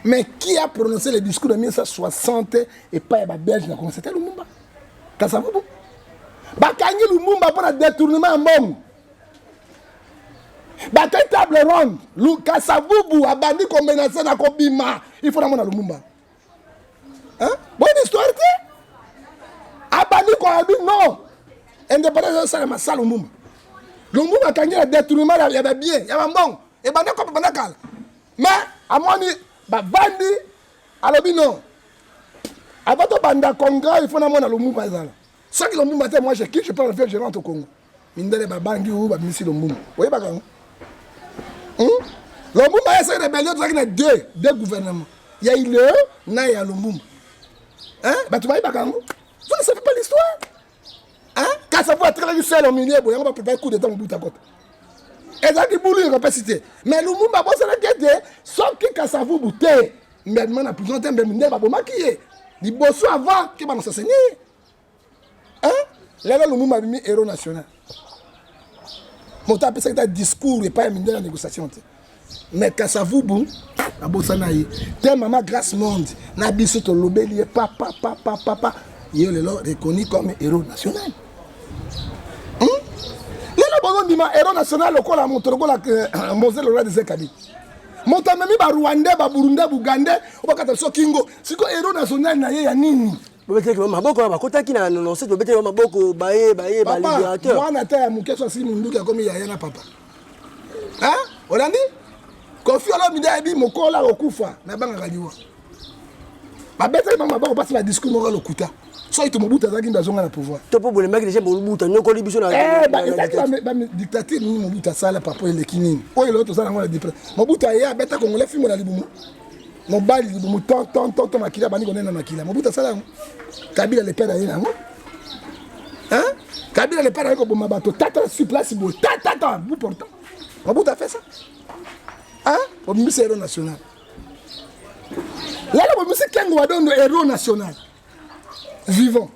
[SPEAKER 3] Mais qui a prononcé le discours de 1960 et pas ya ba Belge na Congo c'était Lumumba. Kasavubu. Bakangi Lumumba pour le détournement ya mbongo. Bakangi table ronde. Lu Kasavubu abandi ko menacer na ko bima. Il faut na mona Lumumba. Hein? Bonne histoire te. Abandi ko abi non. Indépendance ça ma salle Lumumba. Lumumba kangi le détournement ya ba bien, ya ba mbongo. ebanda kopa banda kala mais amoni bavandi alobi non avant tobanda congrès il faut namona lomumba ezala soki lomumba te moi je quitte je prends l'avion je rentre au congo mindele babangi oyo babimisi lomumba oyebaka yango hmm? lomumba ye soki rebellion tozalaki na deux deux gouvernement ya ileo na ya lomumba bato bayebaka yango vous ne savez pas l'histoire hein kasa po atrelaki sel au milieu boye yango baprepare coup d'état mobuta kota ezalaki bulu ya kapasi te mais lumumba abosanaki ete soki kasavubu te mbemema na prison te mbemema nde babomaki ye liboso avant ke banasaseni ye hein lelo lumumba abimi héros national moto apesaki ta discours epai ya mindele ya négociation te mais kasavubu abosana ye te mama grace monde na biso tolobeli ye papa papa papa ye lelo reconnu comme héros national hmm? lelo bozondima héros national lokola moto lokola euh, mose lora desekabi moto amemi barwandais baburundais bugandais obakata biso kingo sikoyo héros national na ye ya nini bobetaki bango maboko
[SPEAKER 4] wana bakotaki na nononse tobetaki bango maboko baye baye baliberateur mwana ata ya moke
[SPEAKER 3] so asili monduki akomi yaya na papa olandi kofi olomide ayebi mokola okokufa nabangaka liwa babetaki bango maboko mpasi na discours moko lokuta soki tomobuta azalaki nde azonga na pouvoir to mpo bolembaki deja
[SPEAKER 4] bolubuta nyokoli biso nadictature
[SPEAKER 3] nini mobuta asala papa eleki nini oyo eloko toza nango na dipre mobuta aye abeta kongole fimbo na libumu mobali libumu tontontonto makila abandi konena makila mobutu asala yango kabila lepe na ye na yango kabila lepe na ye koboma bato tata sur place boye tatata bu portant mobutu afe sa obimisi hero national lala obimisi kengo wadondo hero national vivant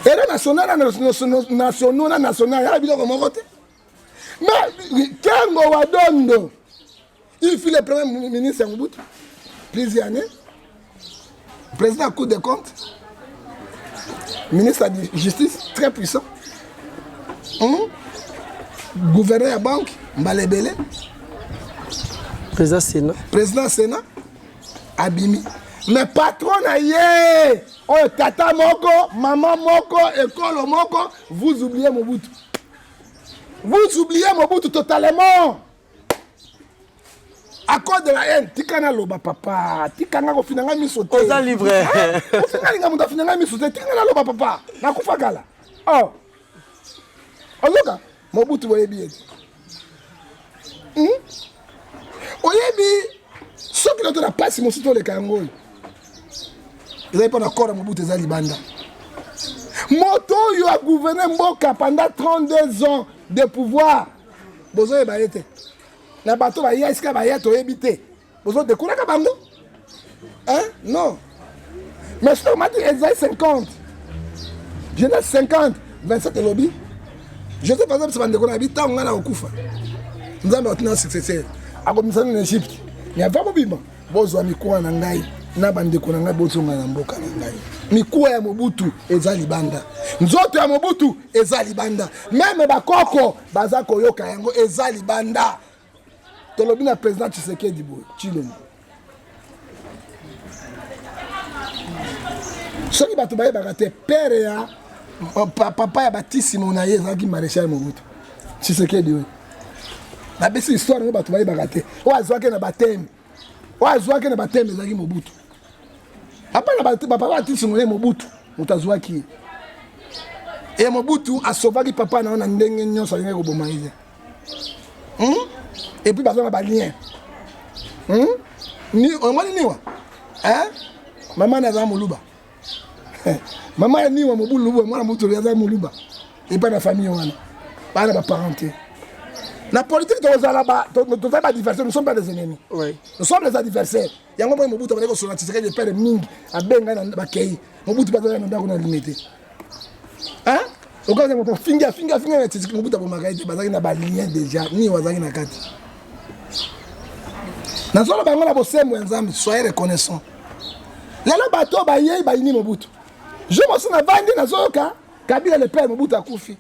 [SPEAKER 3] hero national na nationaux na national yala biloko moko te Mais Kengo Wadondo, il fut le premier ministre à Mobutu, plusieurs années, président à Cour des comptes, ministre de la Justice, très puissant, hum? gouverneur à la banque, Mbalebele, président Sénat, président Sénat, Abimi. me patron na ye oyo tata moko mama moko ekolo moko vous oubliez mobutu Vous oubliez Mobutu totalement. À cause de la haine, tika na loba papa, tika nga kofina nga miso te. Oza libre.
[SPEAKER 4] Ofinga linga
[SPEAKER 3] mutu afina nga miso te, tika na loba papa. Nakufa kala. Oh. Ozoka Mobutu boyebi ye. Hmm? oyebi soki nato na mpasi mosusu toleka yango oyo ezali mpo na kora mobutu eza libanda moto oyo agouverne mboka pendant 32 ans de pouvoir bozoyeba ye te na bato baya esika baya toyebi te bozodekulaka bango Hein? Non. Mais je te remarque, elle a 50. Je n'ai 50. 27 lobby. Je sais par exemple, c'est Bandeko Nabi, tant on a au Koufa. Nous avons un successeur. À comme ça, en Égypte. Il n'y a pas de bima. Bozo Amikoua Nangaï. na bandeko na ngai bozonga na mboka na ngai mikuwa ya mobutu eza libanda nzoto ya mobutu eza libanda meme bakoko baza koyoka yango eza libanda tolobi na président tshisekedi boye tshilombo soki bato bayebaka te pere ya papa ya batisimo na ye ezalaki maréchal mobutu tshisekedi oyo nabesi histoire yango bato bayebaka te oyo azwaki na bateme oyo azwaki na bateme ezalaki mobutu apa na bapapa batisingo ye mobutu moto azwaki ye e mobutu asovaki papa na yo na ndenge nyonso alingaki koboma ye te hmm? epuis baza na balien hmm? omoni niwa mama naza moluba eh, mama ya niwa mobulu lubwa mwana motolo aza moluba epai na famille wana baa na baparent te na politique tozala tozali badiversaire nous sommes pas des ennemis nous sommes des
[SPEAKER 4] adversaires
[SPEAKER 3] yango moi mobutu abandaki kosola tisekedi epere mingi abengai na bakei mobutu bazalaki na ndako na lime te okaza moto afingi afingi afingi na titiki mobutu abomaka ye te bazalaki na balien déjà nini bazalaki na kati nazolo bango na bosembo ya nzambe soye reconnaissant lelo bato oyo bayei bayini mobutu jo mosi navandi nazoyoka kabila le père mobutu akufi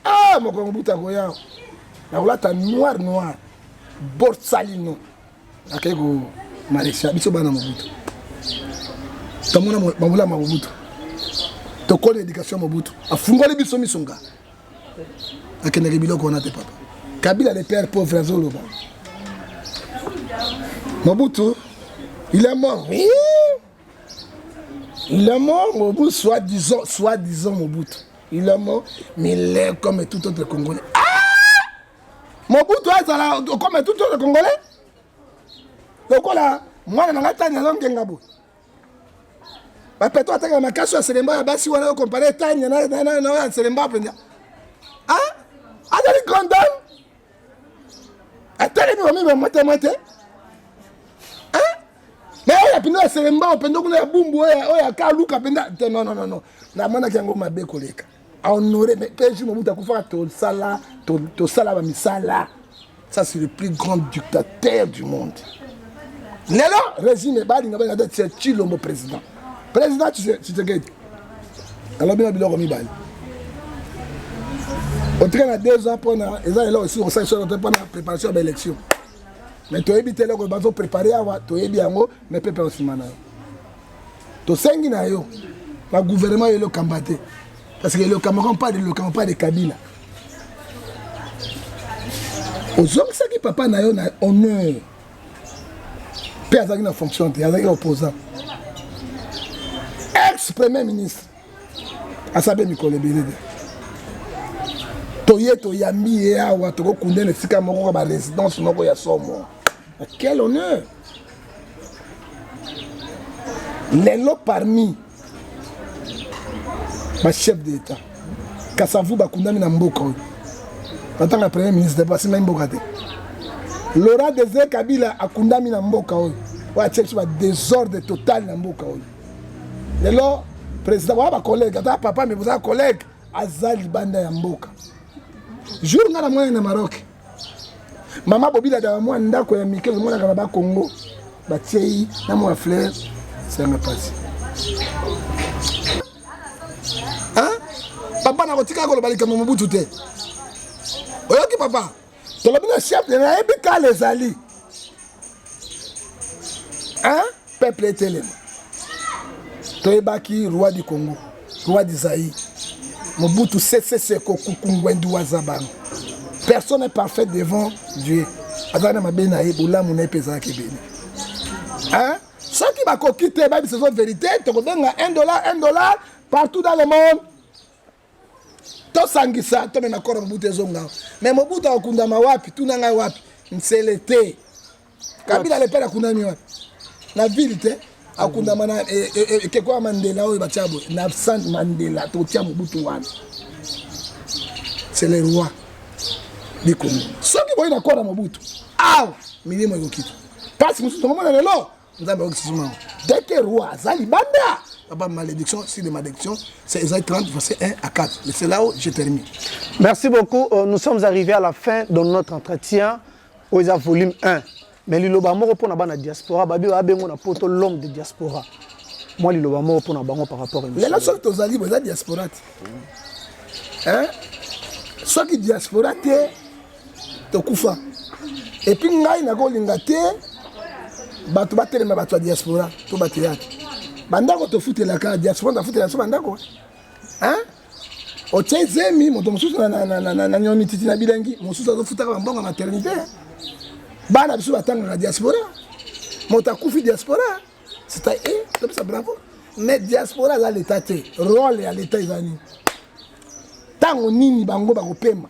[SPEAKER 3] a ah, mokolo mobutu akoya nakolata noir noir borsalino akei ko malaysia biso bana mobutu tomona babula mobutu tokoli éducation mobutu afungoli biso miso nga akendeke biloko wana te papa kabila le père pauvre azoloba mobutu il est mort oui il est mort mobutu soit disant soit disant mobutu il est mort mais il est comme tout autre congolais ah! Mobutu azala comme tout le Congolais lokola mwana na ngai tani azo ngenga boye bapeto ataka makasi ya selemba ya basi wana okompare tani nayo ya selemba mpenza azali condam atelemi bamemi mwete mwete me oyo mpenza ya selemba mpenza kuna ya bumbu oyo akaluka mpenza te nononono namonaki yango mabe koleka a honore mais un jour mobutu akufaka tosala tosala bamisala ça c'est le plus grand dictateur du monde lelo régime balinga balinga te tia tshilombo président président tshisekedi alobi na biloko mibale otika na deux ans mpona eza eloko esili kosala solo te mpona préparation ya baélection mais toyebi te eloko bazo prépare awa toyebi yango mais pepe osima na yo tosengi na yo na gouvernement ya elokamba te parce que elokamba comme pas de elokamba pas de kabila ozongisaki papa na yo na honneur mpe azalaki na fonction te azalaki opposant ex premier ministre asabe mikolo ebele te toye toyambi ye awa tokokunda na esika moko ka baresidence moko ya somo quel honneur lelo parmi bachef de l'état kasavu bakundami na mboka oyo natanga ya premier ministre basengaki mboka te laurent desir kabila akundami na mboka oyo oyo atie biso badesordre total na mboka oyo lelo président boya bacollègue ata papa me bozala collègue aza libanda ya mboka jour ngai na mwana na maroc mama bobilaka na mwa ndako ya mike ezomonaka na bakongo batiei na mwa fleur sanga mpasi papa nakotika koloba likambo mobutu te oyoki papa tolobi na chef nayebi kala ezali peuple etelema toyebaki roi du congo roi du zaïre mobutu seseseko kukungwendu waza bango personne est parfait devant dieu azalaki na mabe na ye bolamu na ye mpe ezalaki ebele soki bakoki te bayebisa ezo verité tokobenga 1 dollar 1 dollar partout dans le monde tosangisa tomema koro mobutu ezonga me mobutu akokundama wapi tuna ngai wapi nsele te kabila lepele akundami wapi na ville te akundama na e, e, e, ekeko ya mandela oyo batya boye na sant mandela totya mobutu wana c'est le roi bikongo soki boyi na koro mobutu awa milimo ekokita mpasi mosusu tokomona lelo nzambe ayoki susu mango dès que roi aza libanda papa malédiction si de malédiction c'est Esaïe 30 verset 1 à 4 mais c'est là où je termine merci beaucoup
[SPEAKER 2] euh, nous sommes arrivés à la fin de notre entretien oyo eza volume 1 mais liloba moko mpo na bana diaspora babi babengo na poto l'homme de diaspora mwa liloba moko mpo na bango par rapport lelo soki tozali boza
[SPEAKER 3] diaspora te soki diaspora te tokufa epuis ngai nakolinga te bato batelema bato ya diaspora to bato yaki bandako tofutelaka diaspora tafutela biso bandako otye zemi moto mosusu na nionititi na bilengi mosusu azofutaka bambongo ya maternité bana biso batangaka diaspora moto akufi diaspora sita e eh, topesa bravo mais diaspora aza leta te role ya leta eza nini ntango nini bango bakopema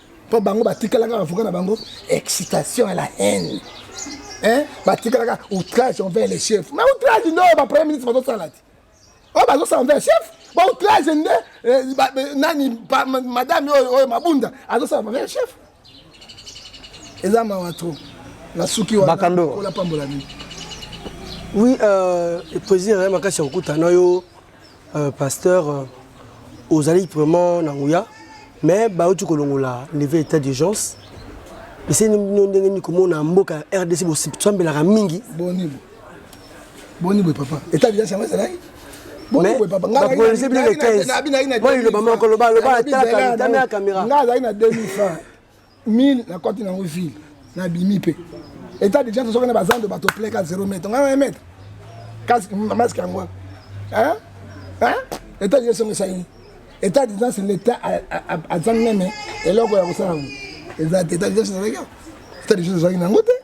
[SPEAKER 3] mpo bango batikalaka avoka na bango excitation ya la haine hein? batikalaka outrage envers le chef ma outrage nde oyo bapremier ministre bazosala te oyo bazosala envers chef ba outrage nde eh, eh, nani madame oyo oyo mabunda azosala envers chef eza mawa trop nasuki wanaolapambola nini oui
[SPEAKER 4] euh, poesie na ye makasi ya kokutana yo Euh, pasteur, euh, ozali vraiment na nguya mais bauti kolongola leve état d'urgence eseni bino ndenge nini komona mboka ya rdc bosambelaka mingi boni
[SPEAKER 3] boni boye papa état d'urgence yango ezalaki bakolise bino le 15
[SPEAKER 4] moi liloba moko loba loba atalaka caméra nga azalaki na 2000
[SPEAKER 3] francs 1000 na koti nango ville na bimi pe eta deja tozoka na bazando bato pleka 0 mètre nga na mètre kasi masque yango hein hein eta deja songo sani eta deja c'est l'état azangi meme eloko ya kosala ngo eza te eta deja sezalaki eta deja sezalaki nango te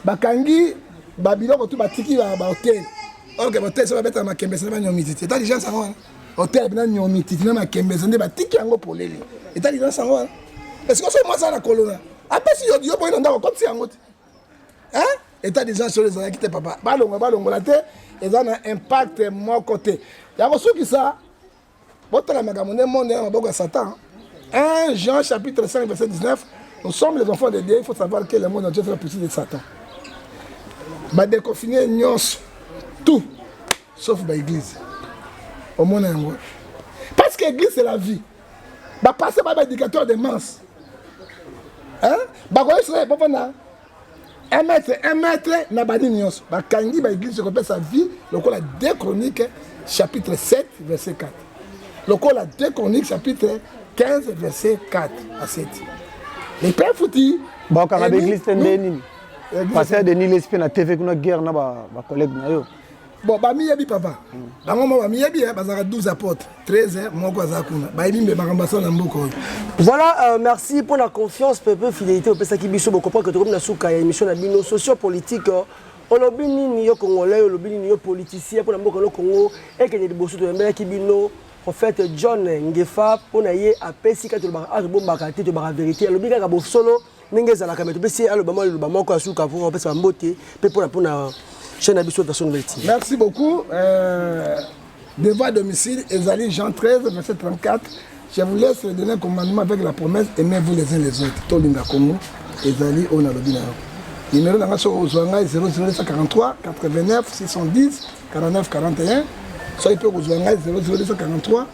[SPEAKER 3] bakangi ba biloko tu batiki ba ba hotel ok ba hotel so babeta makembe sala banyomi titi etali gens yango wana hotel bina nyomi titi na makembe nde batiki yango polele etali gens yango wana esiko so mwasi na kolona apesi yo yo boyi na ndako kotisi yango te hein etat d'urgence oyo ezalaki te papa balongola balongola te eza na impact moko te ya kosukisa botala makambo nde monde na maboko ya satan 1 jean chapitre 5 verset 19 nous sommes les enfants de dieu il faut savoir que le monde entier fait la puissance de satan badeconfine nyonso tout sauf baeglise omona yango parce que église c'est la vie bapasse ba baéducateur de manse bakoyesona bovanda un mètre un mètre na banini nyonso bakangi baeglise ekopesa vie lokola de chronique chapitre 7 verset 4 lokola de chronique chapitre 15 verset 4 à 7 lepe efuti bakanga baeglise
[SPEAKER 2] te nde nini pasteur denis lespe na tv kuna guerre na bacollègue na yo bon bamiyebi
[SPEAKER 3] papa bango ma bamiyebi eh, bazalaka 12 apotre 13 eh, moko aza kuna bayebi mbe makambo asala na mboka oyo voilà euh,
[SPEAKER 4] merci mpo na confiance pepe fidélité opesaki biso bokomprendre que tokomi na suka ya émission na bino socio politique euh, olobi nini yo congolais olobi nini yo politicien mpo na mboka no congo ekende liboso toyambelaki bino prophète john ngefa mpo na ye apesi kati tolobaka azobombaka te tolobaka verité alobi kaka bosolo ndenge ezalaka me topesi aloba mwa liloba moko ya suka mpo apesa bambote mpe mpona mpona chaine na biso version nouvelle tii merci beaucoup
[SPEAKER 3] euh, devant domicile ezali jean 13 verset 34 je vous laisse le dernier commandement avec la promesse aimez vous les uns les autres tolinga kongo ezali oyo nalobi na yo nimero na ngai soki ozwa ngai 00243 89 610 49 41 soki mpe okozwa ngai 00243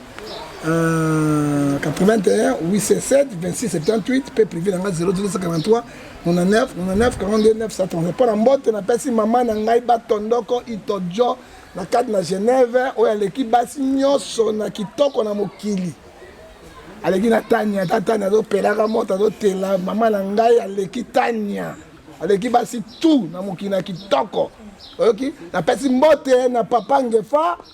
[SPEAKER 3] Euh, 81 867 26 78 mpe privé na ngai 083 99 99 42 930 mpo na mbote napesi mama na ngai batondoko itojo na kati na genève oyo aleki basi nyonso na kitoko na mokili aleki na tania ata tania azopelaka moto azotela mama na ngai aleki tania aleki basi tu na mokili na kitoko oyoki napesi mbote na papa ngefa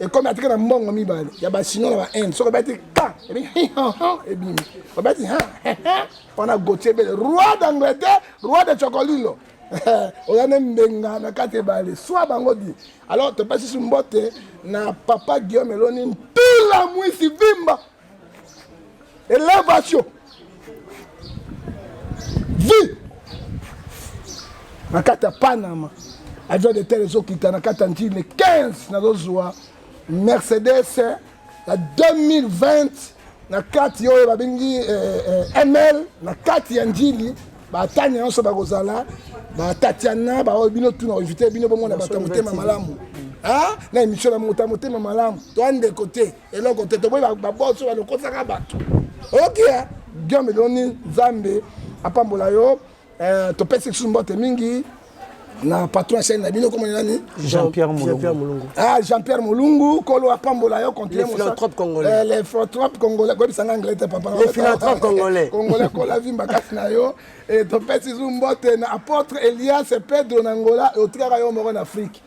[SPEAKER 3] ekomi atika na mbongo mibale ya basino na bainde soki obeti ka ebimi obeti wana gotie ebele roi d'angleterre roi de chocolilo oza nde mbenga na kati ebale swa bango di alors topesi su mbote na papa guillaume eloni ntula mwisi vimba Elevation. Vie. Na kati ya Panama. Avion de terre ezokita na kati ya ntile 15 nazozwa Mercedes ya 2020 na kati oyo babengi eh, eh, ml na kati ya njili batani nyonso bakozala batatiana baoyo bino tuna koinvite bino bomona bato ya motema malamu na emission na moto ya motema malamu to andeko te eloko te toboyi baboso balokosaka bato okia giome eloni nzambe apambola yo eh, topesi lisusu mbote mingi na patron ya chaine na bino komona nani jean-pierre
[SPEAKER 2] molungu ah jean-pierre
[SPEAKER 3] molungu kolo apambola yo continue philanthrope congolais
[SPEAKER 4] eh, le philanthrope
[SPEAKER 3] congolais koyebisa nga anglais te papa le philanthrope congolais
[SPEAKER 4] congolais kola vimba
[SPEAKER 3] kasi na yo et eh, topesi zu mbote na apôtre elias pedro na ngola otikaka yo moko na afrique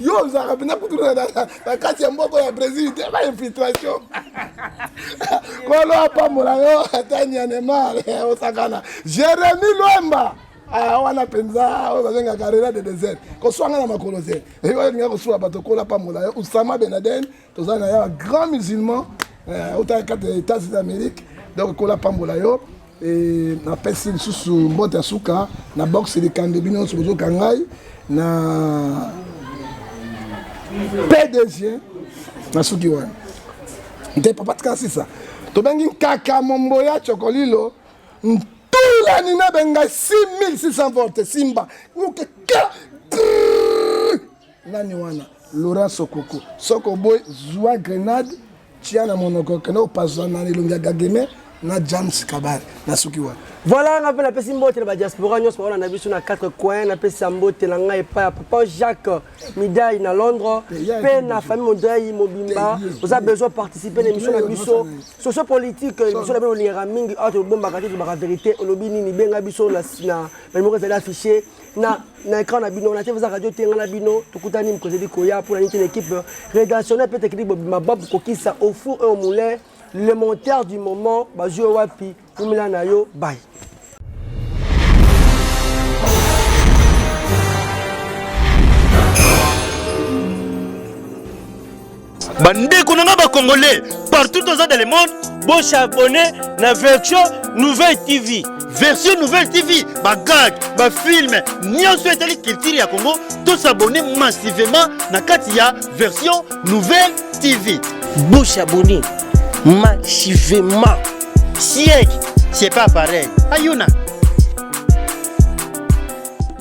[SPEAKER 3] yo ozalaka mpenza kutu na kati ya mboko ya brésil te ba infiltration kolo apambola yo ata nyanemar eh, osakana jérémi lwemba ah, wana mpenza oyo bazongaka rela de desert koswanga na makolo te eyolinga kosuwa bato kola pambola yo usama benaden toza na ya grand musulman eh, otala kati ya états d'amérique donc kola apambola yo e, napesi lisusu mbote ya suka na boxe likambe bino nyonso bozoka ngai na pdg na suki wana nte papa tika sisa tobengi nkaka mombo ya cokolilo ntula nina bengai 6600 volte simba okeka nani wana laurent sokoko soki oboyi zwa grenade tia na monoko kende opaswa na elongi ya gageme na james kabare nasuki wana voilà nga mpe napesi
[SPEAKER 4] mbote na badiaspora nyonso baona na biso na 4 coin napesa mbote na ngai epai ya papa jacques midai na londres mpe na famille modai mobimba oza besoin participe na émission na biso socio politique émission na bino olingaka mingi awa tobombaka te tolobaka verité olobi nini benga biso na numero ezali affiché na na écran na bino na te eza radio tenga na bino tokutani mokolo ebi koya mpo na nini te na équipe euh, rédactionnel mpe technique bobima babu kokisa au four et au moulin le monteur du moment bazwi yo wapi kumela na yo bai
[SPEAKER 1] bandeko na ngai bacongolais partout toza dans le monde bosabone na version nouvelle tv version nouvelle tv bagag bafilme nyonso etali culture ya congo tosabone massivement na kati ya version nouvelle tv bosabone
[SPEAKER 5] massivement
[SPEAKER 1] siècle c'est
[SPEAKER 5] pas pareil
[SPEAKER 1] ayuna